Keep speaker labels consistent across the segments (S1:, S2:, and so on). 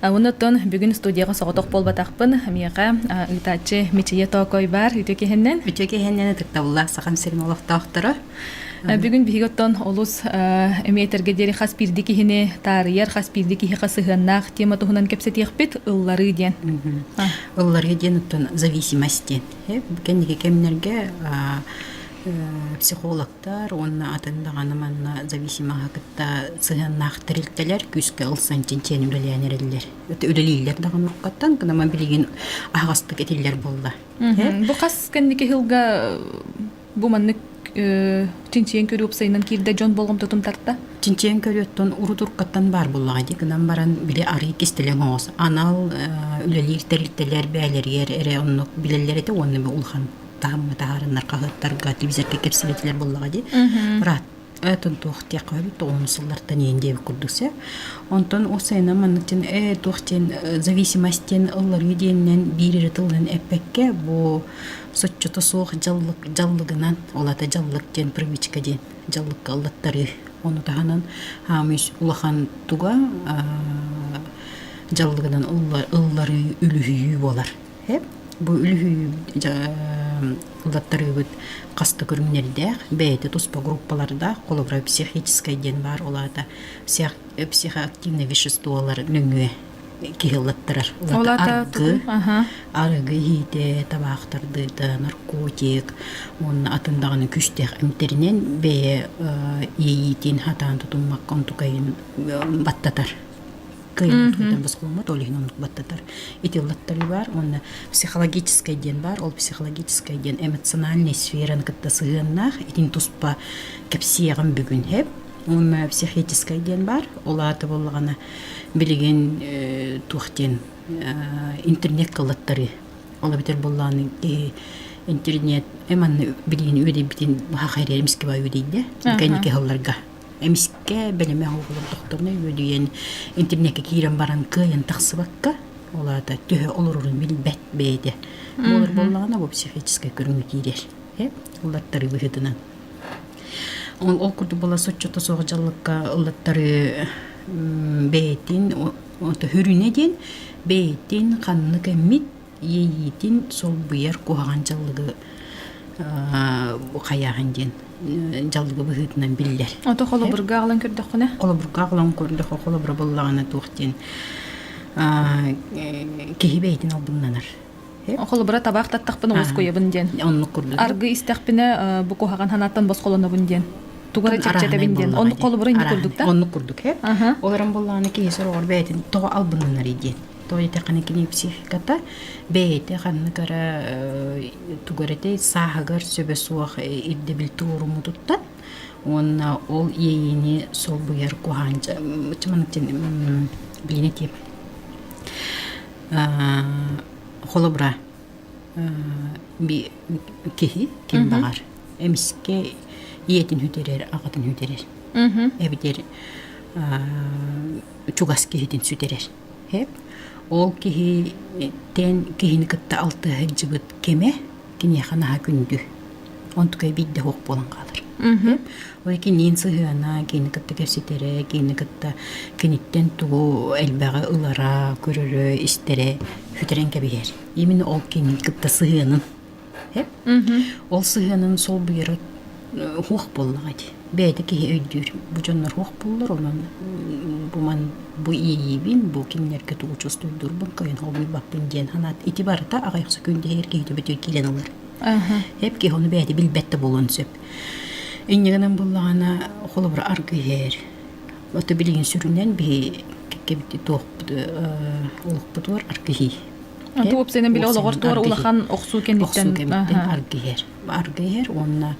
S1: Оннуттан бүгүн студияга соҕотох буолбатахпын. Миэхэ ыытааччы Мичийэ Тоокой баар үтүө киһиннэн. Үтүө киһиннэн ытыктабыллаах
S2: сахам сирин олохтоохторо. Бүгүн биһиги
S1: оттон олус эмиэтэргэ диэри хас биирдии киһини таарыйар, хас биирдии киһиэхэ сыһыаннаах тема туһунан кэпсэтиэхпит ылларыы диэн. Ылларыы
S2: диэн оттон зависимость диэн. Кэнники кэмнэргэ психолог уонна атын даҕаны манна зависимаҕа кытта сыһыаннаах тэрилтэлэр күүскэ ылсан чинчийэн үлэлээн эрэллэр үлэлииллэр даҕаны оккаттан кынама билигин аһаҕастык этиллэр буолла бу хас
S1: кэнники сылга бу маннык чинчийэн көрүү уопсайынан киирдэ дьон болҕомтотун тарта чинчийэн көрүөттэн
S2: урутуркаттан баар буоллаҕа дии гынан баран били арыый кистэлэҥ оҕус анал үлэлиир тэрилтэлэр бэйэлэригэр эрэ оннук билэллэр этэ уонна бу улахан таамма таһаарыннар хаһыаттарга телевизорга кэпсэбитилэр буоллаҕа дии брат этон туох диэххэ эбит он сыллартан иэн диэбит курдук се онтон ол сайынан маннытын э туох диэн зависимостен ылларыы диэннэн биир эрэ тылынан эппэккэ бу соччото суох дьаллык дьаллыгынан олата дьаллык диэн привычка диэн дьаллыкка ыллаттарыы ону таһынан хаамыш улахан туга дьаллыгынан ылларыы үлүһүйүү буолар Бу үлүһүйбүт хас да көрүҥнэрдээх, бэйэтэ туспа группалардаах холобура психическай диэн баар, ол аата психоактивнай веществолар нөҥүө киһи ыллаттарар. Ол аата арыгы иһиитэ, табаах тардыыта, наркотик уонна атын даҕаны күүстээх эмтэринэн бэйэ иэйиитин, хатаан тутуммакка онтукайын баттатар. кыайбытын босхоломмот ол иһин оннук баттатар итиллаттары бар уонна психологическай диэн бар ол психологическай диэн эмоциональный сфераны кытта сыһыаннаах итин туспа кэпсиэҕим бүгүн хэп уонна психическай диэн бар ол ааты боллаҕына билигин туох диэн интернет кылаттары ол битэр боллааны киһи интернет эманна билигин үөдейбитин баха хайрер эмискева үөдейде кэнники Эмискэ бэлэми аһылык олордохторуна үөдүйэн интимнэккэ киирэн баран кыайан тахсыбакка, ол аата төһө олорорун билбэт бэйэтэ буолар буоллаҕына бу психическэй көрүҥү киирэр. Э? Ыллаттары быһыытынан. Ол ол курдук була соччото суох дьаллыкка ыллаттары бэйэтин өтө үрүнэ диэн бэйэтин ханнык эммит иэйиитин солбуйар куһаҕан дьаллыгы хайааһын диэн дьаллыгы быһыытынан биллэр. Ото холобурга аҕалан
S1: көрдөххүнэ? Холобурга аҕалан көрдөххө
S2: холобура буллаҕына туох диэн киһи бэйэтин албыннанар. Холобура
S1: табаах таттахпын уоскуйабын диэн. Оннук курдук. Аргы истэхпинэ бу куһаҕан санааттан босхолонобун диэн. Туга да чэпчэтэбин диэн. Оннук холобура инде курдук да? Оннук курдук.
S2: Олорон буллаҕына киһи сороҕор бэйэтин тоҕо албыннанар диэн. Туойдахана книпсификата бэйэтэ ханныкара тугэрете сааһыгар сөбө суох ирдэбил туоруму туттат уонна ол иэйиини солбуйар куһаан чыманыкчын билини тип холобура би киһи ким баҕар эмискэ ийэтин хүтэрэр аҕатын хүтэрэр эбитэр чугас киһитин сүтэрэр Ол киһитин киһини кытта алтыһа сылдьыбыт кэмэ киниэхэ наһаа күндү. Онтукай биирдэ суох буолан хаалар. Ол киниин сыһыана, кинини кытта кэпсэтэрэ, кинини кытта киниттэн тугу элбэҕи ылара, көрөрө, истэрэ сүтэрэн кэбиһэр. Именно ол кини кытта сыһыанын Ол сыһыанын солбуйара суох буоллаҕа дии. Бэйэтэ киһи өйдүүр. Бу дьоннор суох буоллар онон бу ман бу иэйиибин, бу кинилэргэ тугу чувствуйдуурбун кыайан холбуйбаппын диэн санаат ити барыта аҕыйах секундаһыгар киһитэ бөтүө киирэн ылар. Эп киһи ону бэйэтэ билбэт да буолуон сөп. Инньэ гынан буоллаҕына холобура аргыһэр. Ото билигин сүрүннэн биһи кэккэбит туохпут олохпутугар аргыһый. Бу үпсэнэн
S1: билэ олоҕор туора улахан охсуу кэнниттэн аргыһэр
S2: аргыһэр уонна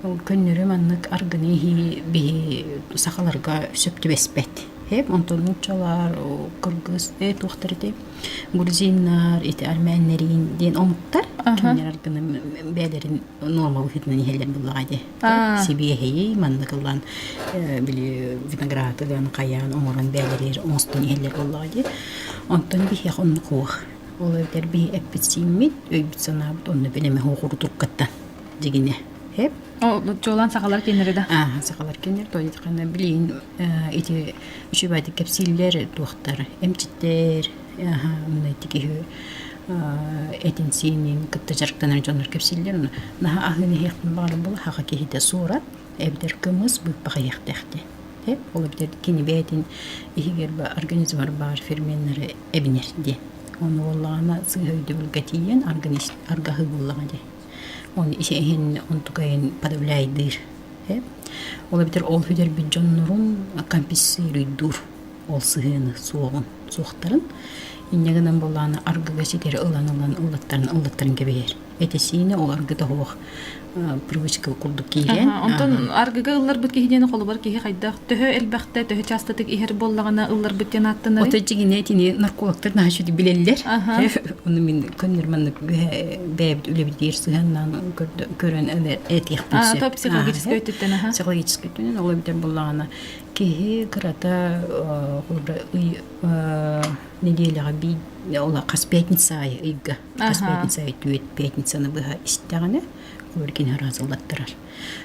S2: көннөрү маннык аргыны иһии биһи сахаларга сөп түбэспэт эп онтон нууччалар кыргыз э туохтар этэй грузиннар ити армяннарин диэн омуктар кимнэр аргыны бэйэлэрин нуорма быһыытынан иһэллэр буоллаҕа ди сибиэһэйи маннык ылан били виноград ылан хайаан оҥорон бээлэрир оҥостон иһэллэр буоллаҕа дии онтон биһиэх онно куох ол эбэтэр биһи эппит сииммит өйбүт санаабыт онно бин эме хуохурутуркаттан дигине хеп чуолаан
S1: сахалар киннери да аа сахалар киннер
S2: тойдыкана билин ити үчүбайдык кэпсииллэр туохтар эмчиттэр Ити киһи этин-сиинин кытта дьарыктанар дьоннор кэпсииллэр. Наһаа аһыын иһиэхпин баҕарабын буоллаһаҕа киһитэ суорат, эбэтэр кымыс быыппах иһиэхтээхтиэ. Ол эбэтэр кини бэйэтин иһигэр организмар баар ферменнэри эбинэр диэн. Ону буоллаҕына сыыһа өйдөбүлгэ тиийэн аргаһыы буоллаҕа дии. Ону иһин онтук айан подавляйдыыр. Ол эбэтэр ол бүтэрбит дьоннорун компенсируйдуур. ол сыһыаны суоҕун суохтарын инньэ гынан буоллаҕына аргыга ситири ылан ылан ыллаттаран ыллаттаран кэбиһэр этисиинэ ол аргыта суох привычка курдук киирэн онтон аргыга
S1: ылларбыт киһи диэни холобур киһи хайдах төһө элбэхтэ төһө чаастатык иһэр буоллаҕына ылларбыт диэн ааттанар ото дьигинэ итини
S2: наркологтар наһаа чуди билэллэр ону мин көннөр маннык бэйэбит үлэбитигэр сыһыаннаан көрөн этиэхпин сөп психологическай
S1: өттүттэн психологическай өттүнэн ол эбитэр
S2: буоллаҕына Киһи кырата нэдиэлэҕэ бий хас пятница аайы ыйга хас пятница аайы түөрт пятницаны быһа истэҕинэ хобор кини араазылаттарар.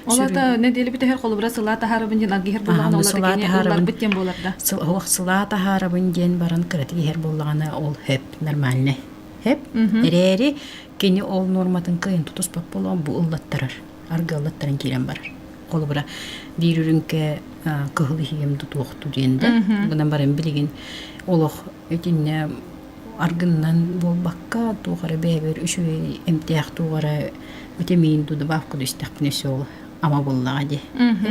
S2: Ол ата
S1: нэдиэлэ бүтэһэр холобура сыла таһаарабын диэн аргиһер буллаҕына ол ата кини уларбыт диэн буоларда. Суох сыла
S2: таһаарабын диэн баран кырата иһэр буоллаҕына ол хэп нормальный хэп эрээри кини ол норматын кыайын тутуспат болон бу ыллаттарар. аргыаллаттаран киирэн барар. Холобура биир үрүҥкэ кыһыл иһиэм тутуохту диэн да гынан баран билигин олох итиннэ аргыннан буолбакка туох эрэ бэйэбэр үчүгэй эмтээх туоҕара витамин ту добавка истэхпинэ все ама буллаҕа ди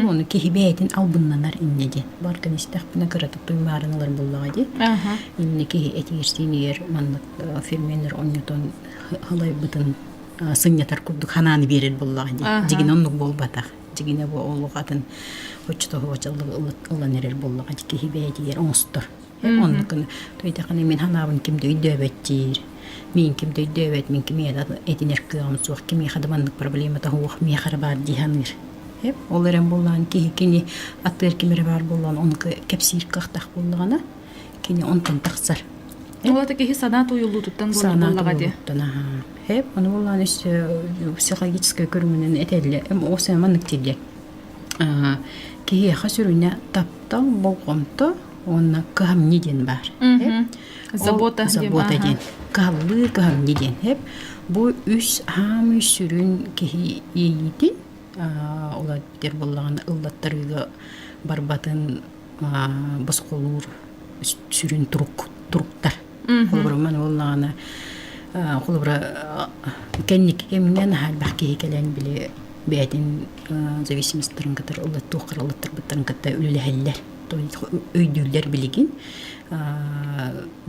S2: оны киһи бэйэтин албыннанар иннэ ди барган истэхпинэ кыратык туймаарын ылар буллаҕа ди иннэ киһи этиирсиинигэр маннык ферменнер онньотон халайбытын сынньатар курдук ханааны биэрэр буоллаҕа дии. Дьигинэ оннук буолбатах. Дьигинэ бу олох атын оччотооҕу чаллы ылан эрэр буоллаҕа киһи бэйэтигэр оҥостор. Оннукун туйдахыны мин ханаабын ким да өйдөөбөттүүр. Мин ким да өйдөөбөт, мин кими этинэр кыаҕым суох, кими хадыманнык проблема таһуох, миэхэ эрэ баар дии саныыр. Ол эрэн буоллаҕа киһи кини атыыр ким эрэ баар буоллаҕа, ону кэпсиир кыахтаах буоллаҕына Кини онтон тахсар. Ол киһи
S1: санаа туйуллуутуттан буоллаҕа дии. Хеп,
S2: ону булан өссө психологическай көрүҥүнэн этэллэ. Осы маннык тириэ. Киһиэхэ сүрүнэ таптал болҕомто уонна кыһамньы диэн баар.
S1: Забота диэн.
S2: Кыһаллыы кыһамньы диэн. Хеп, бу үс хаамыы сүрүн киһи иитин, олар битэр боллаҕына ыллаттарыыга барбатын босхолуур сүрүн турук туруктар. Холобура маны буоллаҕына холобура кэнники кэмҥэ наһаайдах киһи кэлэн били бэйэтин зависимостарын кытары ыллаттуоххара ыллаттарбыттарын кытта үлэлэһэллэр өйдүүллэр билигин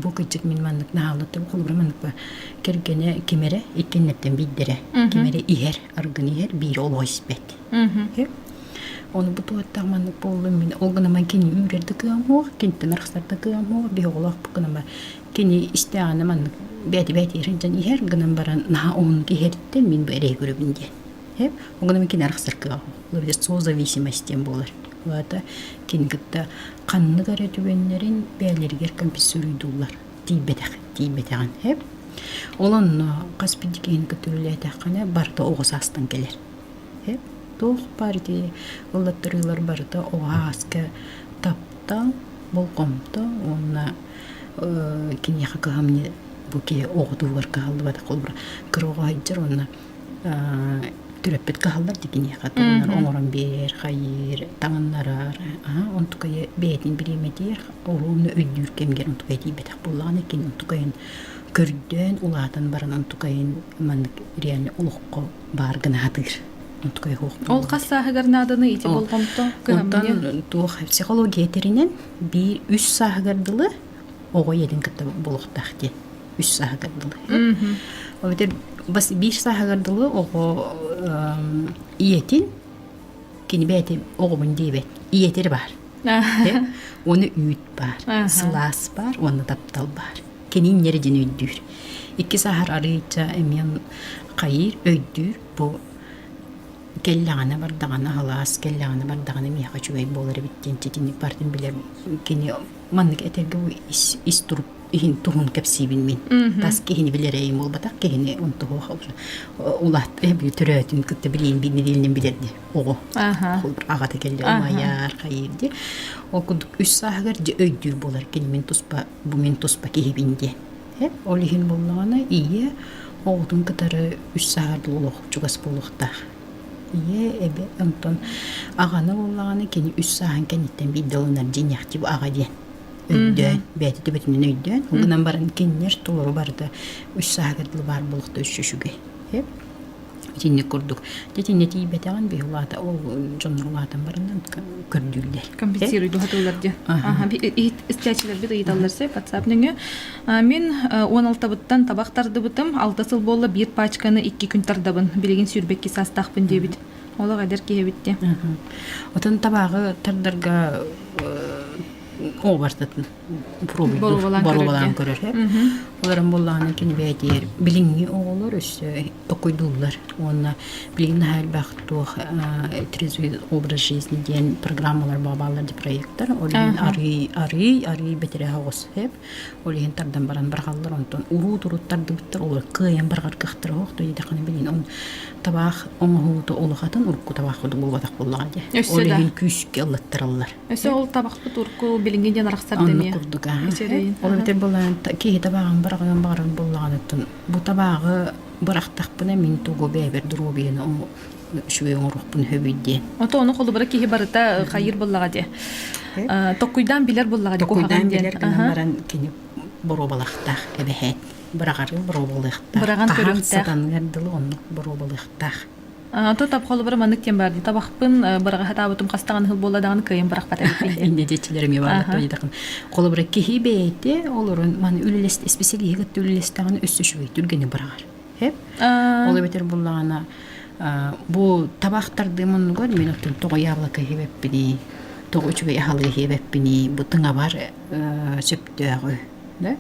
S2: бу кырдьык мин маннык наһааллаттым холобура маннык ба кэргэнэ ким эрэ иккиннэртэн биирдэрэ ким эрэ иһэр аргын иһэр биирэ олоҕо испэт Ол бу туоттаман буоллум мин ол гына ман кини үүрэрдэ тыамуох, киниттен архсарда тыамуох, биһоҕолоох бу гына кини истээҕине ман бэти бэти иржен иһэр гынан баран наһаа оһун киһэртэ мин бу эрэй көрөбүн диэн. Эп ол гына мин кини архсаркыга созависимость диэн буолар. Вата кини кытта ханнык эрэ түгэннэрин бээлэригэр комписсуруйдуулар тиийбэтэх тиийбэтэҕин эп. Ол онно хас бидикиин көтүрүлээтэххинэ барыта оҕо саастан кэлэр. Эп туох баарый ыллаттарыылар барыта уһааска таптал, болҕомто уонна киниэхэ кыһамньы бу киһи оҕотугар кыһаллыбатах холобура кыроҕоһойдьор уонна төрөппүт кыһаллар дии киниэхэ тылынан оҥорон биэр, хайыыр, таҥыннарар онтукайа бэйэтин бириэмэтигэр уһуунна өйдүүр кэмигэр онтукайа тиийбэтэх буоллаҕына кини онтукайын көрдөөн улаатан баран онтукайын маннык реально олоххо баар гына атыыр нуткай хуох ол
S1: хас сааһыгар нааданы ити болҕомто онтон туох
S2: психология этэринэн биир үс сааһыгар дылы оҕо ийэтин кытта булуохтаах диэн үс сааһыгар дылы ол битэр бас биир сааһыгар дылы оҕо ийэтин кини бэйэтэ оҕобун диэбэт ийэтир баар ону үүт баар сылаас баар уонна таптал баар кини инньэри дин өйдүүр. Иккис ахар арыйча эмиэн хайыыр өйдүүр бу кэллэҕинэ бардаҕына халаас кэллэҕинэ бардаҕына миэхэ үчүгэй буолар эбит диэн ситинник бардын билэр кини маннык этэргэ ис ис турук иһин туһун кэпсиибин мин тас киһини билэрэйим буолбатах киһини онтуһуох улаат төрөөтүн кытта билиин билинилин билэрди оҕо аҕата келлер майар хайыырди ол курдук үс сааһыгар өйдүүр буолар кини мин туспа бу мин туспа киһибин диэн. Ол иһин буоллаҕына ийэ оҕотун кытары үс сааһар буолуох чугас буолуохтаах. Ийэ эбэ онтон аҕаны буоллаҕына кини үс сааһын кэнниттэн биирдэ ылынар дьиниэхчи бу аҕа диэн өйдөөн бэйэтитэ бэтинэн өйдөөн ол гынан баран кинилэр толору барыта үс сааһыгар дылы баар буолуохта үс үчүгэй Итинник курдук. Дьэ итиннэ тиийбэтэҕим биһи улаата ол дьоннор улаатан бараннан көрдүүллэр. Компенсируйду хатыллар
S1: диэн. Аха истээччилэрбит ыйыталлар сэ WhatsApp нөҥө. Мин он алтабыттан табах тардыбытым. Алта сыл буолла биир пачканы икки күн тардабын. Билигин сүүрбэкки саастаахпын диэбит. Олох эдэр киһи эбитте. Отон
S2: табаҕы тардарга ообартатын боруобалаан көрөрө олорон буоллаҕына кини бэйэтигэр билиҥҥи оҕолор өссө токуйдууллар уонна билигин наһаа элбэх туох трезвый образ жизни диэн программалар бааллар диэн проектар ол иһин арыый арыый арыый бэтэрээ оҕус сэп ол иһин тардан баран барҕаллар онтон урут урут тардыбыттар олор кыайан барҕар кыахтара оһох то дидэххине билин он табаах оҥоһуута улахатын урукку табаах кудук буолбатах буоллаҕа дии ол иһин күүскэ аллаттараллар Өссө ол табахпыт
S1: урку билиҥҥи диэн арахсар Онно дэмиэ. курдук аа. Сирэйин. Ол
S2: эбэтэр былаан та- киһи табаҕын быраҕыан баҕарар буоллаҕыныттан бу табаҕы бырахтахпына мин тугу бэйэбэр доруобуйаны ому- үчүгэй оҥоруохпун сөбүй диэн. Ото ону холобура киһи
S1: барыта э, хайыыр буллаҕа диэ. Э, Токкуйдаан билэр буллаҕа диэ куһаҕан Токкуйдаан диэн. билэр гынан Аха. баран
S2: кини боруобалахтаах эбэһэт. Быраҕары боруобалыахтаах. Быраҕан хаһан көрүөхтээх.
S1: сатаныгар дылы оннук
S2: боруобалыахтаах. Ту тап
S1: холобура маннык диэн баар табахпын быраҕаһатаабытым хастаҕын ыһыл буолла даҕаны кыайан бырахпат эбиппин диэн. Инде дьичлэрим
S2: ебааллаттан холобура киһи бэйэтэ олорун маны үллэст исписэлииһи кытта үллэстэҕин үс үчүгэй түргэни быраҕар. Эп ол эбэтэр буллаҕына бу табах тардыы муннугар мен оттон тоҕо яблоко иһибэппиний тоҕо үчүгэй аһалы иһибэппиний бу тыҥабар сөптөөҕү да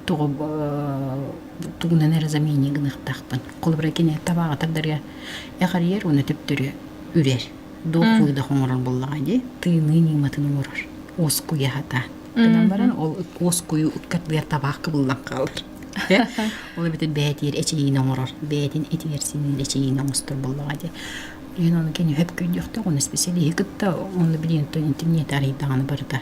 S2: тоҕо тугунан эрэ замене гыныахтаахпын холобура кини табаҕа тардарыа эҕэрийэр уонна төптөрү үрэр дуох выдох оҥорор буоллаҕа дии тыыныы ньыыматын оҥорор уоскуйа сатаан гынан баран ол уоскуйуу ыккардыгар табаах кыбыллан хаалар ол эбэтэр бээтигэр эчэйиини оҥорор бээтин этигэр синиир эчэйиини оҥостор буоллаҕа дии ийэн ону кини өп көйдүөхтээх оны исписэлииһи кытта онно билиэн то интернет арыйдаҕына барыта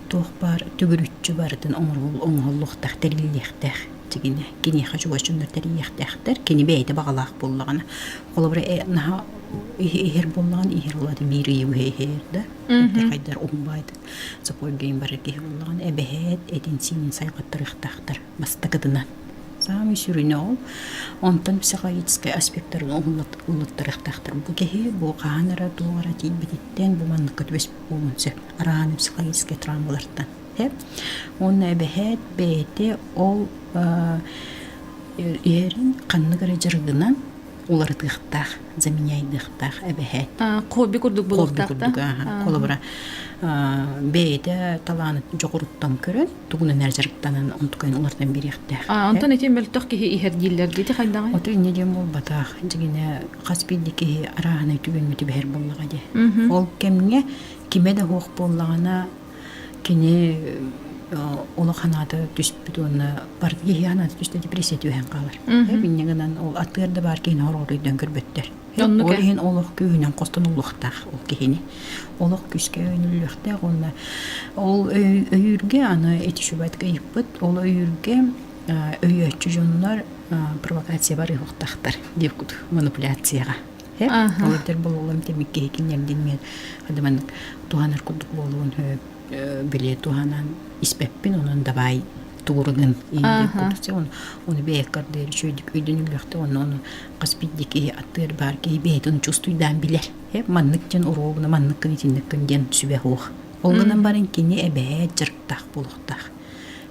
S2: туох баар төгүрүччү барытын оҥоһуллуохтаах, тэриллиэхтээх. Тигинэ киниэхэ чугаччыннар тэрийиэхтээхтэр. Кини бэйэтэ баҕалаах буоллаҕына. Холобура э, наһаа иһэр буоллаҕына иһэр буоллаҕына биир ыйы быһа иһэр да. Хайдар уһун баайдык саппоргейн барар киһи буоллаҕына эбэһээт этин-сиинин сайҕаттарыахтаахтар бастакытынан. Саамай сүрүнэ ол. Онтон психологическай аспектарын уһуллуттарыахтаахтар. Бу киһи бу хаһан эрэ туох эрэ тиийбититтэн бу манныкка түбэспит Оонче араан психологический травмалартан эбээт. Уонна эбэһээт бэйэтэ ол иһэрин ханнык эрэ дьарыгынан уларытыахтаах, заменяйдыахтаах эбэһээт. Хобби курдук
S1: буолуохтаахтаах. Холобура
S2: бэйэтэ талааны дьоҕуруттан көрөн тугунан эрэ дьарыктанан онтукайын улартан биэриэхтээх. Онтон итин мөлтөх
S1: киһи иһэр дииллэр дии хайдаҕый? Ото инньэ диэн буолбатах.
S2: Дьигинэ хас биирдии киһи арааһынай түгэҥҥэ түбэһэр буоллаҕа дии. Ол кэмҥэ кимэ да суох буоллаҕына кини олох анаата түспүт уонна бар киһи анаата түстэ депрессия түһэн хаалар. Инньэ гынан ол атыыр да баар киһини ороодойдон көрбөттөр. Ол иһин олох күүһүнэн хостон уулуохтаах ол киһини. Олох күүскэ өнүллүөхтээх уонна ол өйүүргэ аны эти шубатка ыйыппыт. Ол өйүүргэ өйөөччү дьоннор провокациябар ыһыахтахтар диир кутук манипуляцияҕа олордор буолалларын тимик киһи киниэрдин мен маннык туһанар курдук буолуон били туһанан испэппин онон давай туурунун оны бэйэккэрдери чөйдүк өйдүн үллөхтө онно оны хас бидди киһи аттыыр баар киһи бэйэтин чувствуйдаан билэр маннык диэн уруогуна манныккын итинниктин диэн сүбэ уох олынан баран кини эбээ дьарыктаах буолуохтаах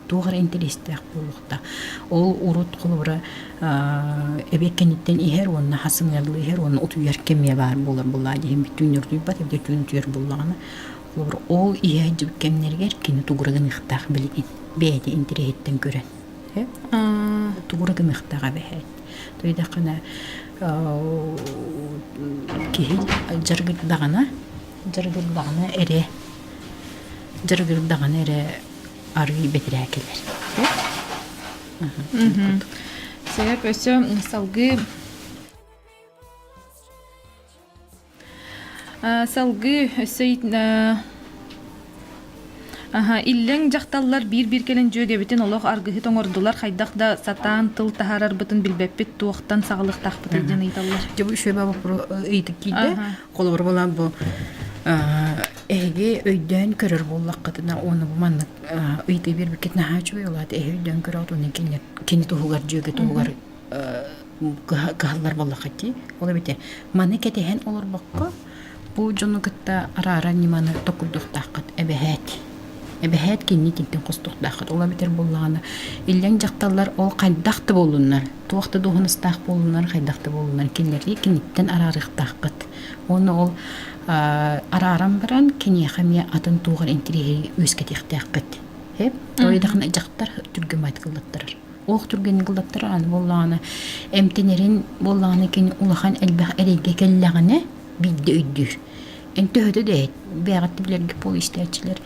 S2: туох эрэ интэриэстээх буолуохта. Ол урут холобура эбиэт кэнниттэн иһэр уонна хас сымыйалыы иһэр уонна утуйар кэмиэ баар буолар булаа диһим бүтүн нөрдүйбат эбдэ түүн түөр буллаҕына холобур ол иһэрдибит кэмнэригэр кини тугура гыныахтаах билигин бэйэтэ интэриэһиттэн көрөн тугура гыныахтаах эбэһэт тойдахына киһи жаргырдаҕына жаргырдаҕына эрэ дьарыгыр даҕаны эрэ арыый бэтирээ кэлэр.
S1: Саяк өссө салгыы салгыы өссө Аха, иллэҥ дьахталлар биир-биир кэлэн дьүөгэбитин олох аргыһыт оҥордулар хайдах да сатаан тыл таһаарарбытын билбэппит туохтан саҕалыктаахпытый диэн ыйыталлар. Дьэ бу үчүгэй боппуруос
S2: ыйытык киирдэ. Холобур буолан бу эһиги өйдөөн көрөр буоллаххытына уону бу маннык ыйытыы биэрбиккит наһаа үчүгэй болаат эһи өйдөөн көрөт уонна кини кини туһугар дьүөгэ туһугар кыһаллар буоллаххыт дии ол эбитэ маны кэтэһэн олорбокко бу дьону кытта араара ньыманы токурдуохтааххыт эбэһээт эбэһээт кинини тинтин хостуохтааххыт ол эбитэр буоллаҕына иллэҥ дьахталлар ол хайдах да буоллуннар туох да дуоһунастаах буолунар, хайдах да буолунар кинилэри киниттэн араарыахтаахпыт. Уонна ол арааран баран киниэхэ эмиэ атын туоҕар интириэһи үөскэтиэхтээхпит. Ойдахына дьахтар түргө майгыллаттарар. Ох түргэн гыллаттар аны буоллаҕына эмтэнэрин буоллаҕына кини улахан элбэх эрэйгэ кэллэҕинэ биирдэ өйдүүр. Эн төһөтө да иһит бэҕэттэ билэргэ буол истээччилэр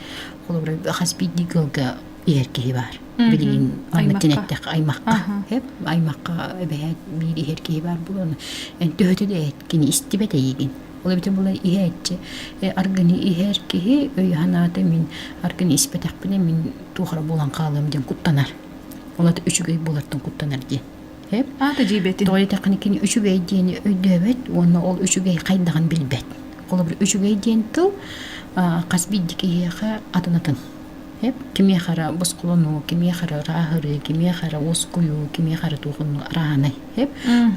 S2: холобура хас биирдии ыалга иһэр киһи баар. билигин манныктан эттэххэ аймахха эп аймахха эбэһээт биир иһэр киһи баар буолан эн төһөтө да эт кини истибэт эйигин ол эбитин була иһээччи аргыны иһэр киһи өйө-санаата мин аргыны испэтэхпинэ мин туохара буолан хаалыам диэн куттанар олата үчүгэй буолартан куттанар диэн эп аата дьиибэтин
S1: тоҕо диэтэххинэ кини үчүгэй
S2: диэни өйдөөбөт уонна ол үчүгэй хайдаҕын билбэт холобур үчүгэй диэн тыл хас биирдии киһиэхэ атын атын Кимиэхэ эрэ босхолонуу, кимиэхэ эрэ ырааһырыы, кимиэхэ эрэ уоскуйуу, кимиэхэ эрэ туох оннук арааһынай.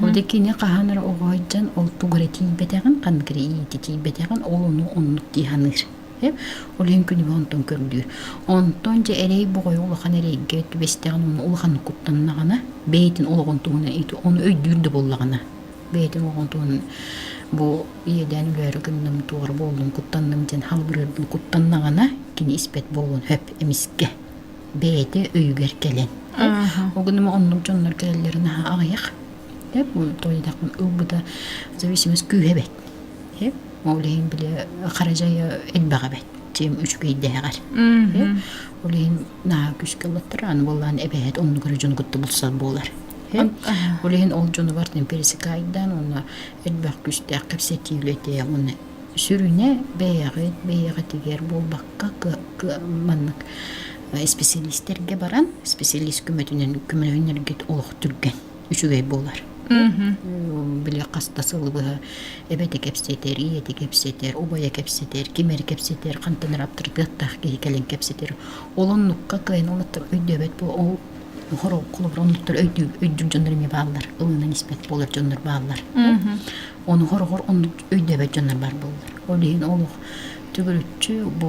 S2: Ол да кини хаһан эрэ оҕо айдьан ол тугу эрэ тиийбэтэҕин, ханнык эрэ иитэ тиийбэтэҕин, ол ону оннук дии саныыр. Ол иһин күнүбэ онтон көрүлүүр. Онтон дьэ эрэй боҕойо улахан эрэйгэ түбэстэҕин уонна улаханнык куттаннаҕына, бэйэтин олоҕун туһунан ити ону өйдүүр да буоллаҕына бэйэтин оҕотун бу иэдээн өлөөрү гынным туора буоллун куттанным диэн халгырыырбын куттаннаҕына кини испэт буолуон хөп эмискэ бэйэтэ өйүгэр кэлэн ол гынан оннук дьоннор кэлэллэрин аҕыйах деп бу тойдахпын ылбыта зависимость күүһэ бэт хеп ол иһин бile хара дьайа элбэҕэ бэт тем үчүгэйдээҕэр ол иһин Наа күүскэ олоттор аны буоллаан эбэһэт оннугар дьону кытта булсар буолар. Һин ол иһин ол дьонугар темперсикайдан уонна элбэх күүстээх кэпсэтии үлэтэ уонна сүрүнэ бэйэҕит бэйэҕитигэр буолбакка маннык специалисттерге баран специалист көмөтүнэн көмөлөһүннэргит олох түргэн үчүгэй буолар. Били хас да сыл быһа эбэти кэпсэтэр, ийэти кэпсэтэр, убайа кэпсэтэр, ким эрэ кэпсэтэр, хантанар аптарытыаттаах киһи кэлин кэпсэтэр. Ол оннукка кыайан олоттор өйдөөбөт бу ол холобур оннуктар өйдүүр дьоннор эмиэ бааллар. Ылынан испэт буолар дьоннор бааллар. Оны хороҕор оннук өйдөөбөт дьоннор баар буоллар. Ол иһин олох төгүрүччү бу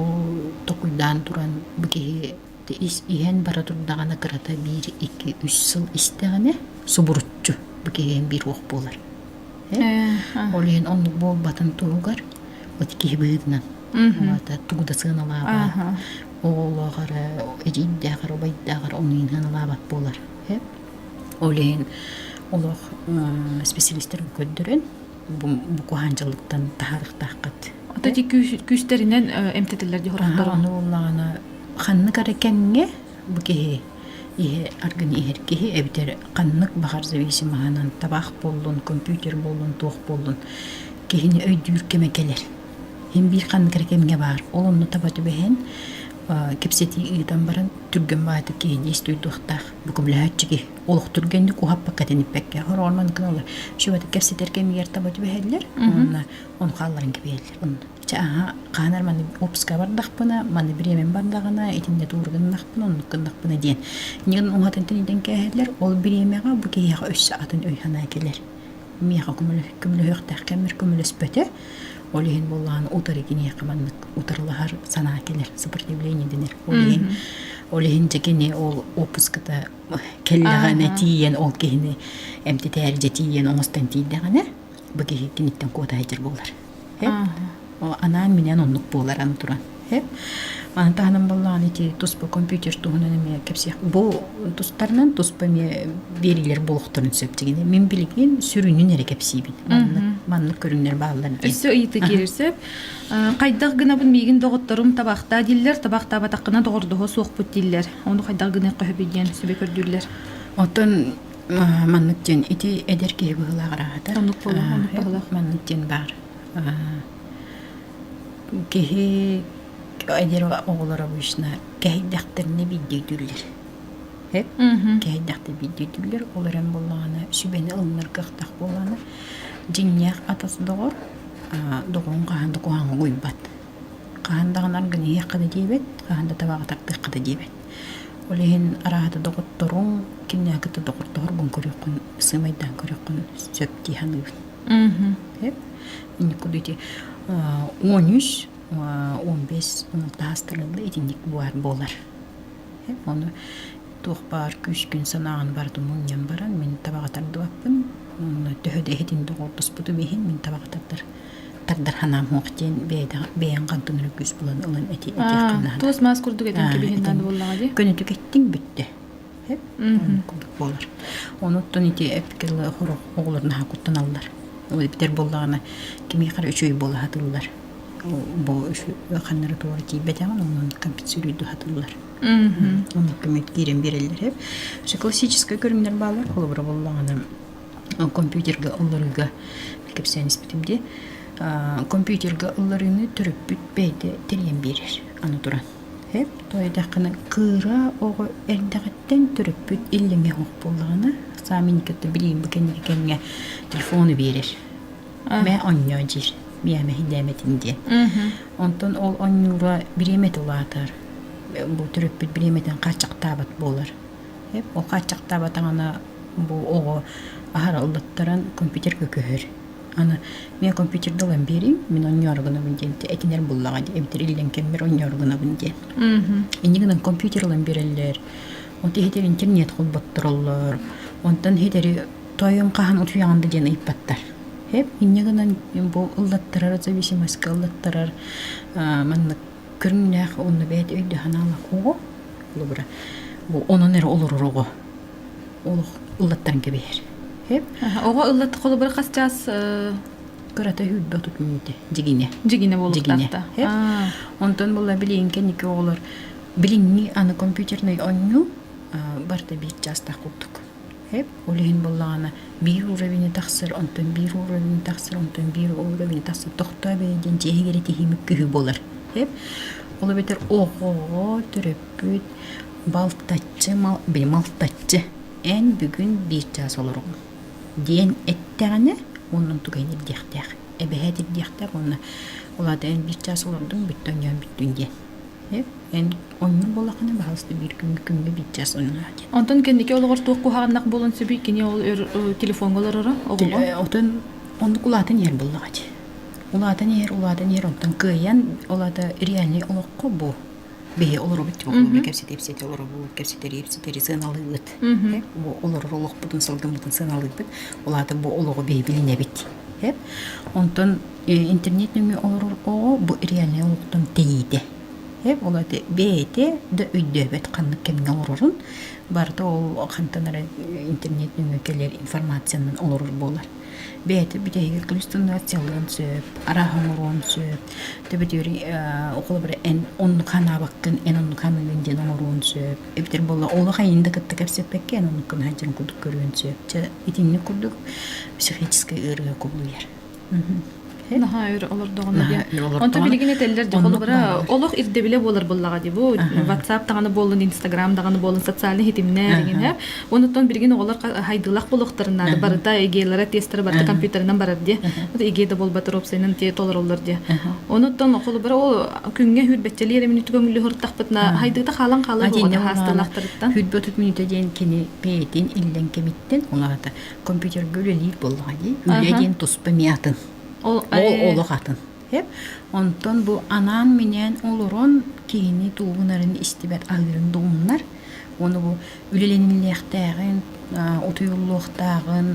S2: токуйдаан туран бу киһи ис иһэн бара турдаҕына кырата биир икки үс сыл истэҕинэ субуруччу бу киһиэн биир уох буолар ол иһин оннук буолбатын туһугар вот киһи быһыытынан уната тугу да сыаналаабат оҕолоохор эдьиийдээхэр убайдааҕар ону иһиналаабат буолар ол иһин олох специалистарын көрдөрөн букуһаанчылыктан таһаарыктааххыт. Ото ити
S1: күүстэринэн эмтэтиллэр дьоһуруктара. Ону ыллаҕына
S2: ханнык эрэ кэмҥэ бу киһи ihe аргын иһэр киһи эбитэр ханнык баҕар зависимоһанан табаах буоллун компьютер буоллун туох буоллун киһини өйдүүр кэмэ кэлэр ин биир ханнык эрэ кэмҥэ баар ол онну таба түбэһэн кэпсэтии ыытан баран түргэн баатык киһи диэс дуйдуохтаах букубляһаччы киһи олохтуурга инник уһаппакка тэниппэккэ хороонон кыаллар шүбэтик кэпсэтэр кэмигэр таба түбэһэллэр уонна он хаалларын кэпиэллэр хаанар маны опуска бардахпына маны бириэмэн бардаҕына итиннэ тууруганнахпына оннук гыннахпына диэн ньыгын уҥатын тэнитэн кээһэллэр ол бириэмэҕэ бу киһиэхэ өссө атын өй санаа кэлэр миэхэ көмөлөһүөхтээх кэммэр көмөлөспөтө ол иһин буоллаҕын утары киниэхэ маннык утарылаһар санаа кэлэр сопротивление дэнэр ол иһин ол иһин дьэ кини ол опуската Кэллэҕинэ тиийэн ол киһини эмтэтээр дьэ тиийэн оҥостон тиийдэҕинэ бу киһи киниттэн куотаайдьар буолар. Анаан минээн оннук буолар аны туран. Маны таһынан боллаҕына ити туспа компьютер туһунан эмиэ кэпсиэх. Бу тустарынан туспа эмиэ биэриилэр буолуохтарын сөп дигини. Мин билигин сүрүнүн эрэ кэпсиибин. Маннык маннык көрүҥнэр бааллар диэн. Өссө ыйыта киирэр
S1: сөп. Хайдах гынабын миигин доҕотторум табахтаа дииллэр, табахтаабатаххына доҕордоһуо суохпут дииллэр. Ону хайдах гыныахха сөбүй диэн сөбө көрдүүллэр. Оттон
S2: маннык диэн ити эдэр киһи быһыылаах араатар. Оннук буолуох, оннук
S1: баһылаах. Маннык диэн баар.
S2: Киһи эдэр оҕолор обычно кэһэйдэхтэринэ биирдиитүүллэр. Кэһэйдэхтэр биирдиитүүллэр. Ол эрэн буоллаҕына сүбэни ылынар кыахтаах буоллаҕына дьиҥнээх атас доҕор доҕоҥ хаһан да куһаҕаҥҥа угуйбат. Хаһан даҕанар гын иһиэххэ да диэбэт, хаһан да табаҕа тардыахха да диэбэт. Ол иһин арааһата доҕотторуҥ кинилэри кытта доҕордоһоргун көрүөххүн, сыымайдаан көрүөххүн сөп дии саныыбын. Инникитэ ити он үс, он бес таас талылла итинник баар буолар. Ону туох баар күүскүн санааҕын барытын мунньан баран мин табаҕа тардыбаппын уонна төһө да иһитин доҕордоспутум иһин мин табаҕа тардар тардар санаам суох диэн бэйэҥ хантан эрэ күүс булан ылан эти туос маас курдук этиҥ
S1: кэбиһин наада буоллаҕа дии көнөтүк эттиҥ бүттэ
S2: курдук буолар онуттан ити эпкилы оҕолор наһаа куттаналлар ол эбитэр буоллаҕына кимиэхэ эрэ үчүгэй буола сатыыллар бу ханнары туора тиийбэтэҕин онон компенсируйду хатыллар онно көмө киирэн биэрэллэр үһү классическай көрүҥнэр бааллар холобура буоллаҕына компьютерга ылларыыга кэпсээн испитим дии компьютерга ылларыыны төрөппүт бэйэтэ тэрийэн биэрэр аны туран эп тоойдаххына кыра оҕо эрдэҕиттэн төрөппүт иллэҥэ суох буоллаҕына саамай кытта билиим кэнники кэмҥэ телефону биэрэр Мэ онньоо диир биээмэһийдээмэтин диэн. Онтон ол онньуура бириэмэтэ улаатар. Бу төрөппүт бириэмэтин хааччахтаабат буолар. Эп ол хааччахтаабатаҕына бу оҕо аһараллаттаран компьютерга көһөр. Аны мен компьютерга ылан биэриим, мин онньооро гынабын диэн ити этинэр буллаҕа дии эбэтэр иллэҥ кэммэр онньооро гынабын диэн. Инньэ гынан компьютер ылан биэрэллэр. От иһитэр интернет холботтороллор. Онтон иһитэри Тойон хаһан утуйаҕын да диэн ыйыппаттар. Эп инньэ гынан бу ыллаттарар зависимость ыллаттарар маннык көрүҥнээх онно бэйт өйдөһөн аала кого лубра бу онон эрэ олорор оҕо олох ыллаттан кэбиһэр эп оҕо ыллат
S1: холобура хасчаас кырата
S2: хүлбэ тут мүнүтэ дигине дигине болуттаата онтон була билиин кенники оҕолор билиҥни аны компьютерный онню барта биир частах курдук Эп, ол иһин буоллаҕына биир уровень тахсар, онтон биир уровень тахсар, онтон биир уровень тахсар, тохтоо бэйэ диэн дьиэһиг эрэ тиһимик киһи буолар. Эп, ол эбэтэр охоо, төрөппүт, балтаччы, били малтаччы эн бүгүн биир чаас олоруоҥ диэн эттэҕинэ оннун туган ирдиэхтээх, эбэһээт ирдиэхтээх уонна ол аата эн биир чаас олордуҥ, бүттүн дьон бүттүн диэн. эн оннук буоллаххына баһалыста биир күҥҥэ күҥҥэ биччэс ойунаа диэн онтон кэнники олоҕор
S1: туох куһаҕаннах буолан сөбүй кини ол телефоҥҥа олороро оҕолор отон
S2: оннук улаатан иһэр буоллаҕа дии улаатан иһэр улаатан иһэр онтон кыайан ол аата реальнай олоххо бу биһи олоробут буолуо кэпсэтэ ипсэтэ олоробут кэпсэтэри ипсэтэри сыаналыыбыт бу олорор олохпутун сылдыммытын сыаналыыбыт ол аата бу олоҕу биһи билинэбит онтон интернет нөҥүө олорор оҕо бу реальнай олохтон тэйиитэ. Э улаты бэйэтэ да өйдөөбөт ханнык кэмҥэ олорорун барыта ол хантан эрэ интернет нөҥүө кэлэр информацияны олорор буолар. Бэйэтэ бүтэһигэр иллюстрациялыан сөп, араһа оҥоруон сөп. Төбөтүөр холобура эн оннук ханаабаккын, эн оннук ханыыгын диэн оҥоруон сөп. Эбэтэр буолла олох айыны да кытта кэпсэппэккэ эн оннуккун сылдьарын курдук көрүөн сөп. Чэ итинник курдук психическэй ыарыыга кубулуйар.
S1: наһаа өр олордоҕуна диэн онто билигин этэллэр дьэ холобура олох ирдэбилэ буолар буоллаҕа дии бу ватсап даҕаны буоллун инстаграм даҕаны буоллун социальнай хитимнэр эҥинэ онтон билигин оҕолор хайдылах буолуохтарын наада барыта игелара тестара барыта компьютерынан барар диэ иге да буолбатар опсайынан те толороллор диэ онуттан холобура ол күҥҥэ хүрбэччэлиэр эмин көҥүллү хортахпытына хайдыыта хаалан хаалар хаасталахтарыттан хүрбөтүт мүнүтэ диэн
S2: кини пеетин иллен кемиттен оҥарата компьютерга үлэлиир буоллаҕа дии үлэ диэн туспа эмиэ атын ол олох атын онтон бу анаан минээн олорон киһини тугунарын истибэт аһыырын дугуннар оны бу үлэлэниллиэхтээҕин утуйуллуохтааҕын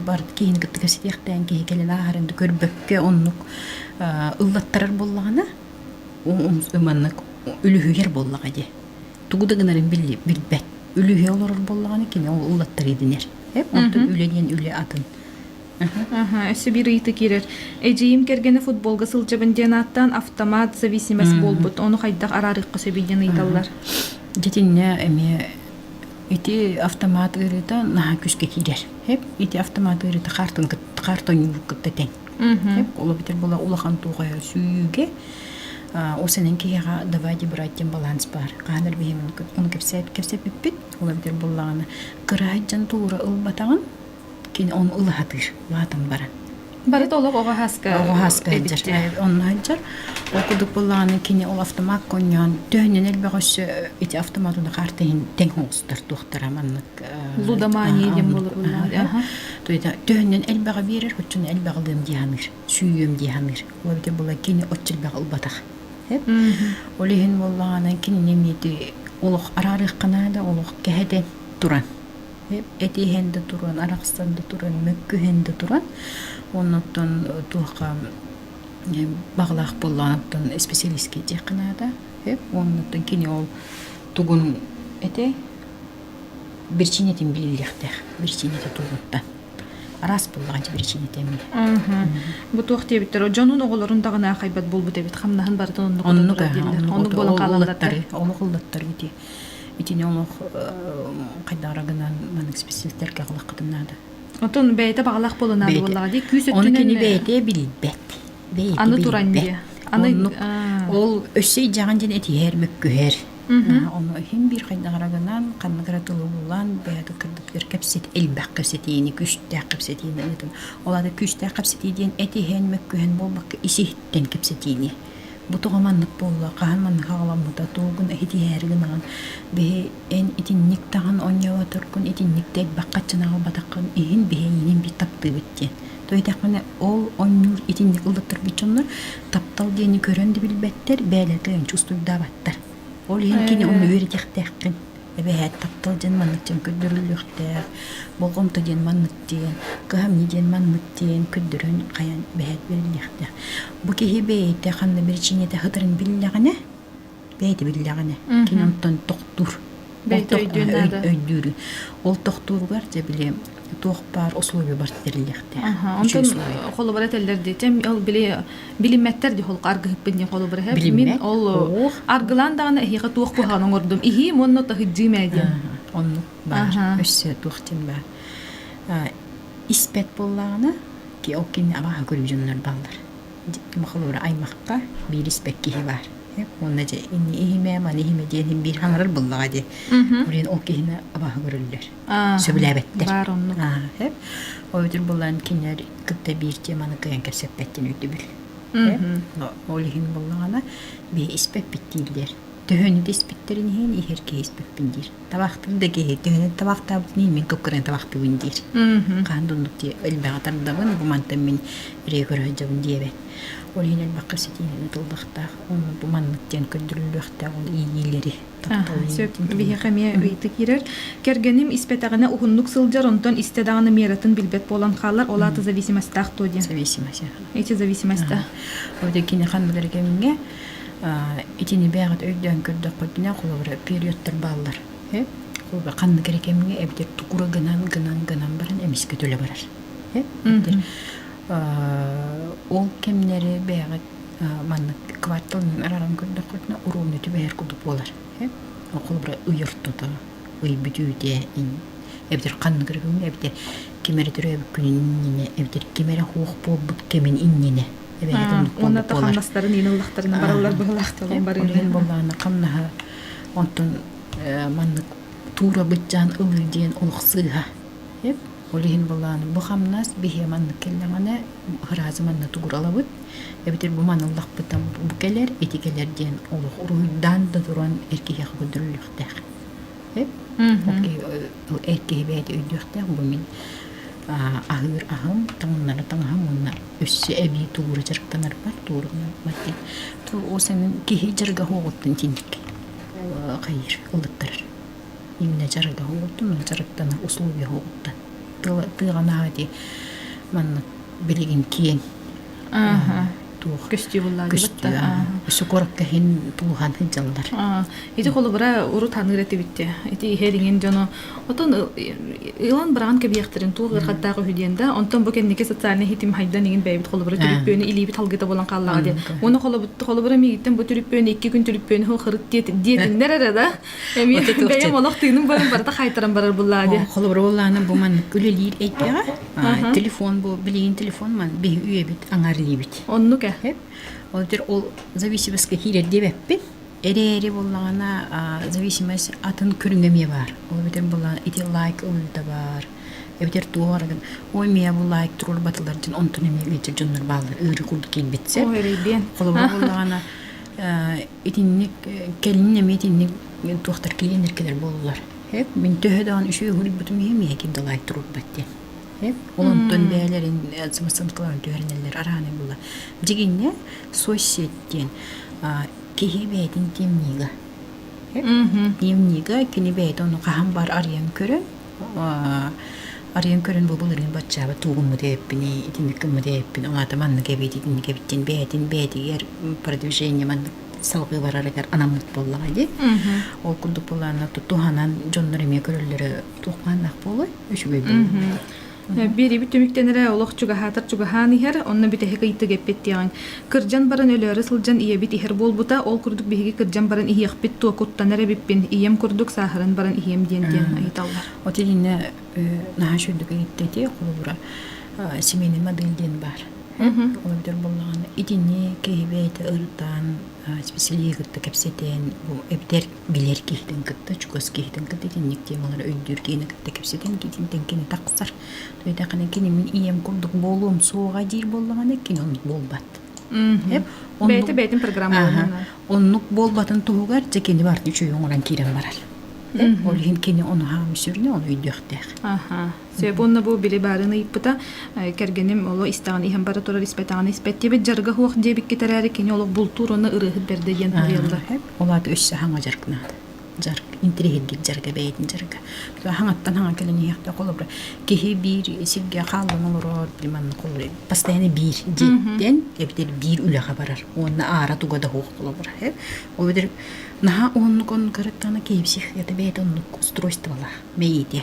S2: барыт киһини кытта кэситиэхтээн киһи кэлэн ааһарын көрбөккө оннук ыллаттарар буоллаҕына маннык үлүһүйэр буоллаҕа дии тугу да гынарын билбэт. Үлүһүйэ олорор буоллаҕына кини ол улаттар идинер. Оттон үлэ диэн үлэ атын.
S1: Сибир ыйыты киирэр. Эдьиийим кэргэнэ футболга сылдьабын диэн ааттаан автомат зависимость буолбут. Ону хайдах араарыахха сөбүй диэн ыйыталлар. Дитинне
S2: эмиэ ити автомат ыарыыта наһаа күскэ киирэр. Ити автомат ыарыыта хаартын кытта хаарт ойнуубут кытта тэҥ. Ол бүтэр була улахан туохая сүүгэ ол сенен киһиэхэ давайте брать диэн баланс баар хаһан эрэ биһиэм ону кэпсээт кэпсэппиппит ол бүтэр буллаҕына кыраайт дьон туура ылбатаҕын кини ону ылаһатыыр улаатан баран барыта олох
S1: оҕо хаска оҕо хаска сылдьар
S2: онно сылдьар ол курдук буллаҕына кини ол автомат конньоон төһөннөн элбэх өссө ити автомат уна карта иһин тэҥ оҥостор туохтара маннык лудомания
S1: диэн буоларыллаах төһөннөн
S2: элбэҕи биэрэр оччону элбэҕилиэм дии саныыр сүүйүөм дии саныыр ол дьэ була кини оччо элбэҕи ылбатах ол иһин буоллаҕынан кинини эмиэти олох араарыахха наада олох кэһэтэн туран этиһэн да туран арахсан да туран мөккүһэн да туран оннуттан туохха баҕалаах боллоонуттан специалистке диэххэ наада оннуттан кини ол тугун этэй Биричиинэтин биэрилиэхтээх. Биричиинэтэ туолуоттан. Араас буллаҕынча биричиинэтэ эмиэ. Бу туох
S1: диэбиттэр, дьонун оҕолорун даҕаны аахайбат буолбут эбит, хамнаһын барытын оннук ототтурар дииллэр. Оннук буолан хаалаллар. Олох ыллаттар
S2: ити. Итини олох хайдаҕара гынан маннык специалисттергэ аҕалаххытым наада. Отон бэйэтэ
S1: баҕалаах буолунаада буоллаҕа дии күүс өттүнэн. Оны кини бэйэтэ билбэт.
S2: Бэйэтэ аны туран
S1: аны ол
S2: өссө идьаҕын дьин этиһэр, мөккүһэр. Ону иһин биир хайдаҕара гынан, ханнык эрэ тылы булан, бэйэтэ кырдык бэрт кэпсэтии, элбэх кэпсэтиини, күүстээх кэпсэтиини ыытан. Ол аата күүстээх кэпсэтии диэн этиһэн, мөккүһэн буолбакка, ис-иһиттэн кэпсэтиини. Бу тоҕо маннык буолла, хаһан маннык аҕаламмыта, тугун этитиһээри гынаҕын. Биһи эн итинник даҕаны оонньоботоргун, итинник да элбэх хаччыны аҕалбатаххын, иһин биһиэйиинин биир таптыыбыт диэн. Төйдэхпинэ ол оонньуур итинник ыллыттарбыт дьоннор таптал диэни көрөн да билбэттэр, бэйэлэритэ өнчө устуйдаабаттар. Ол иһин кини ону үөрэтиэхтээххин. Эбэһээт таптал диэн маннык диэн көрдөрүллүөхтээх. Болҕомто диэн маннык диэн, кыһамньы диэн маннык диэн көрдөрөн хайан эбэһээт бэриллиэхтээх. Бу киһи бэйэтэ ханна причинета сытарын биллэҕинэ бэйэтэ биллэҕинэ кини онтон тохтуур бэйэтэ
S1: өйдүүр
S2: ол тохтууругар дьэ били туох баар условиебар тэриллиэхтээх онтон
S1: холобура этэллэр дии чэм ол били билиммэттэр дии холку аргыһыппын диэн холобура иһэ мин ол аргылаан даҕаны эһиэхэ туох куһаҕан оҥордум иһии монно таһыддьыым ээ диэн оннук
S2: баар өссө туох дьин баар испэт буоллаҕына ол кини абааһы көрүү дьоннор баллар Махалара аймахпар биир испэк киһи баар. Уонна дьэ ини иһимэ, маны иһимэ диэн биир хаҥырар буллаҕа дии. Орин ол киһини абааһы көрөллөр. Сөбүлээбэттэр. Баар оннук. Ол үтүр буллан кинилэр кытта биир теманы кыйан кэпсэппэттин өйдөбүл. Ол иһин буллаҕана бии испэппит дииллэр. Төһөнү испиттерин иһин иһэр киһи испэппин диир. Табахтыыр да киһи төһөнү табахтаабытыный мин куккурайы табахтыыбын диир. Хаһан да оннук диэ элбэҕи тардабын, бу мантан мин ырыа көрө сылдьабын диэбэт. Ол иһин элбэххэ ситиһиилэрин тылбахтаах, ону бу маннык диэн көрдөрүллүөхтээх ол иэйиилэри таптал Сөп. иэйиитин
S1: Биһиэхэ эмиэ ыйытыы киирэр. Кэргэним испэтэҕинэ уһуннук сылдьар, онтон истэ даҕаны мератын билбэт буолан хаалар, ол аата зависимостаах дуо диэн. зависимость эти
S2: зависимость
S1: да. Ол да киниэхэ
S2: андылар кэмҥэ Итини бэйэҕит өйдөөн көрдөххүтүнэ, холобура, периодтар бааллар. Холобура, ханнык эрэ кэмҥэ эбэтэр тукура гынан, гынан, гынан баран эмискэ төлө барар. Эбэтэр ол кэмнэри бэйэҕит маннык кварталынан арааран көрдөххүтүнэ, уруогунай түбэһэр курдук буолар. Холобура, ый ортото, ый бүтүүтэ, эбэтэр ханнык эрэ күҥҥэ, эбэтэр ким эрэ төрөөбүт күнүн иннинэ, эбэтэр ким эрэ суох буолбут кэмин иннинэ уонна
S1: хамнастарын иин ыллахтарына бараллар быһылаахталан барыыларын боллаана хамнаһа
S2: онтон маннык туура быччаан ылыы диэн олох сыыһа ол иһин боллаана бу хамнас биһиэ маннык кэллэҕинэ ыраазы манна тугуралабыт эбэтэр бу маныллахпытым бу кэлэр ити кэлэр диэн олох уруһуйдаан да туран эркиһиэхэ көрдөрүллүөхтээх Ол эр киһи бэйэтэ өйдүөхтээх бу мин аһыыр аһым, таҥыннары таҥаһым уонна өссө эбии туура дьарыктанарбар тууругунарбар диэн. То ол санын киһи дьарыгаһа оҕоттон тиник хайыр ылыттарар. Именно дьарыгаһа оҕоттон, ол дьарыктана условиеһа оҕоттон. Тыаҕа ити манна билигин киэҥ
S1: Өссө
S2: куоракка иһин тулуһан сылдьаллар. Ити холобура
S1: урут ханыыр этибит ити иһэ ириҥин дьоно отон ылан быраҕан кэбиэхтэрин туох ыархаттаах үһү диэн да онтон бу кэнники социальнай ситим хайдан иҥин бэйэбит холобура түрүппүөнү илиибит халгыта булан хааллаҕа диэн уонна холобура миигиттэн бу түрүппүөнү икки күн түрүппүөнү хыл хырыт диэтиҥнэр эрэ да эмиэ бэйэм олох тыыным барым барыта хаайтаран барар буллаа диэ холобура буоллаана бу
S2: маннык үлэлиир эйгэҕэ телефон бу билигин телефон ман биһи үйэбит аңарыйбит оннук э
S1: ол дер ол
S2: зависимоска киирер диэбэппин эрээри боллаҕына зависимость атын көрүҥэ эмиэ баар ол эбэтэр булла ити лайк ылыыта баар эбэтэр туох арагын ой мия бу лайк турор батылар дин онтун эмиэ биитир дьоннор бааллар ыыры курдук киирбитсэ холобур
S1: боллаҕына
S2: итинник кэлин эмиэ итинник туохтар киинер кэлэр боллар Эп, мин төһө даҕаны үсүһүрбүтүм иһин миэхэ кирдалаай турурбат диэн. Эп ол онтон бэйэлэрин самосвалкалаан түһэринэллэр арааны була. Дьигиннэ соцсеть диэн киһи бэйэтин тимнига. Тимнига кини бэйэтэ ону хаһан баар арыйан көрөн арыйан көрөн бу былырыын баччаабыт туугуммут эппин итинник гыммыт эппин оҥата маннык эбит итинник эбит диэн бэйэтин бэйэтигэр продвижение маннык салгыы барарыгар анаммыт буоллаҕа дии. Ол курдук былаана туһанан дьоннор эмиэ көрөллөрө туох бааннаах буолуой үчүгэй буолуо.
S1: Биэриби түмүктэнэрэ олох чугаһаатар чугаһаан иһэр, онно бүтэһик ыйытык эппит диэҕиҥ. Кырдьан баран өлөөрү сылдьан ийэбит иһэр буолбута, ол курдук биһиги кырдьан баран иһиэхпит туо куттанар эбиппин, ийэм курдук сааһыран баран иһиэм диэн диэн ыйыталлар. От иннэ
S2: наһаа үчүгэй иттэ дии холобура семейный модель диэн баар. Олордор буоллаҕына итини киһи бэйэтэ ырытан исписэлииһи кытта кэпсэтэн бу эбэтэр билэр киһитин кытта чугас киһитин кытта итинник темалары өйдүүр киһини кытта кэпсэтэн киһитинтэн кини тахсар туйдаахына кини мин ийэм курдук буолуом суоҕа диир буоллаҕына кини оннук буолбат бэйэтэ бэйэтин
S1: программаланна оннук
S2: буолбатын туһугар дьэ кини барды үчүгэй оҥорон киирэн барар ол иһин кини ону хаамыы сүрүнэ ону өйдүөхтээх Сөп уонна бу
S1: били баарын ыйыппыта, кэргэним оло истэҕин иһэн бара турар испэтэҕин испэт диэбит дьарга хуох диэбиккит эрээри кини олох бултуур уонна ырыаһыт бэрдэ диэн буруйаллар. Ол аата үс хаһаҥа
S2: дьаргынаат. Дьарг интриһиргит дьарга бэйэтин дьарга. Хаһаҥаттан хаҥа кэлэн иһиэхтэ холобура киһи биир сиргэ хааллан олорор приманна холобура постоянно биир диэн эбитэр биир үлэҕэ барар уонна аара туга да хуох холобура ол битэр наһаа оннук оннук арыттана киипсих это бэйэтэ оннук устройстволаах мэйиите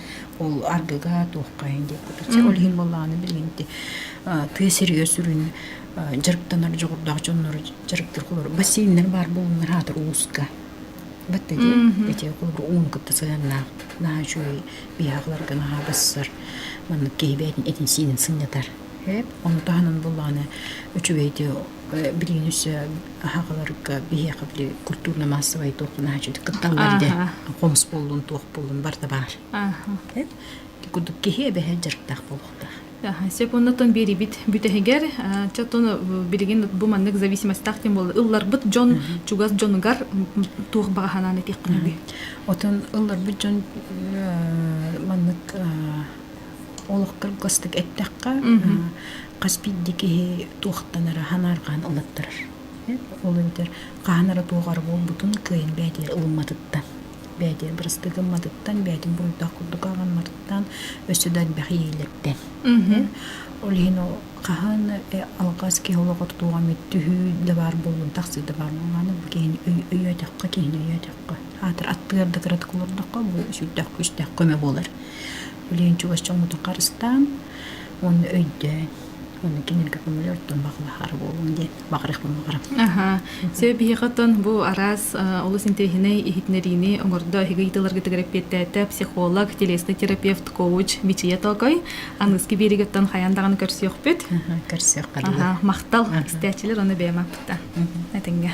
S2: Ол ардыга туоххайын диэк кутурча. Ол иһин буоллаҕына билигин ити тыа сиригэр сүрүн дьарыктанар дьоҕурдаах дьоннору дьарыктыыр бассейннар баар буоллуннар аатыр ууска. Батта диэн ити курдук ууну кытта сыһыаннаах наһаа үчүгэй биһаҕаларга наһаа бассар маннык киһи бэйэтин этин-сиинин сынньатар. Эп, ону таһынан буоллаҕына үчүгэй ити билигин өссө аһаҕаларга биһиэхэ били культурно массовай туохпун аһаччыт кыттан бэрдэ хомус буоллун туох буоллун барта баар ити курдук киһи эбэһэ дьарыктаах буолуохтаах секундатан
S1: биэрибит бүтэһигэр чатон билигин бу маннык зависимостьтаах тем буолла ылларбыт дьон чугас дьонугар туох баҕаһанаан этиэхпин отон
S2: ылларбыт дьон маннык олохтор гастык эттэххэ хас биирдии киһи туохтанара ханаарҕаан ылыттарар. Ол эбэтэр хаһан эрэ туох эрэ буолбутун кыайан бэйэтигэр ылымматыттан, бэйэтигэр бырастыы гымматыттан, бэйэтин буруйдаах курдук ааҕымматыттан, өссө да элбэх иэйиилэртэн. Ол иһин ол хаһан алҕас киһи олоҕор туох эмит түһүү да баар буолуон тахсыы да баар буоллаҕына бу киһини өйөөтөххө киһини өйөөтөххө аатыр аттыгар да кыратык олордоххо бу сүрдээх күүстээх көмө буолар. Билигин чугас дьоҥҥутун харыстаан уонна өйдөөн уонна кинилэргэ көҥүл ортон баҕалаһара буолуон диэн баҕарыахпын баҕарабын. Аһаа. Сөп
S1: биһиэхэттэн бу араас олус интэриэһинэй иһитиннэриини оҥордо эһиги ыйытыыларгытыгар эппиэттээтэ психолог, телесный терапевт, коуч Мичийэ Тоокой. Аныгыскы биэриигэттэн хайаан даҕаны көрсүөхпүт. Көрсүөххэ дии. Махтал. Истээччилэр уонна бэйэм аппыта. Этиҥҥэ.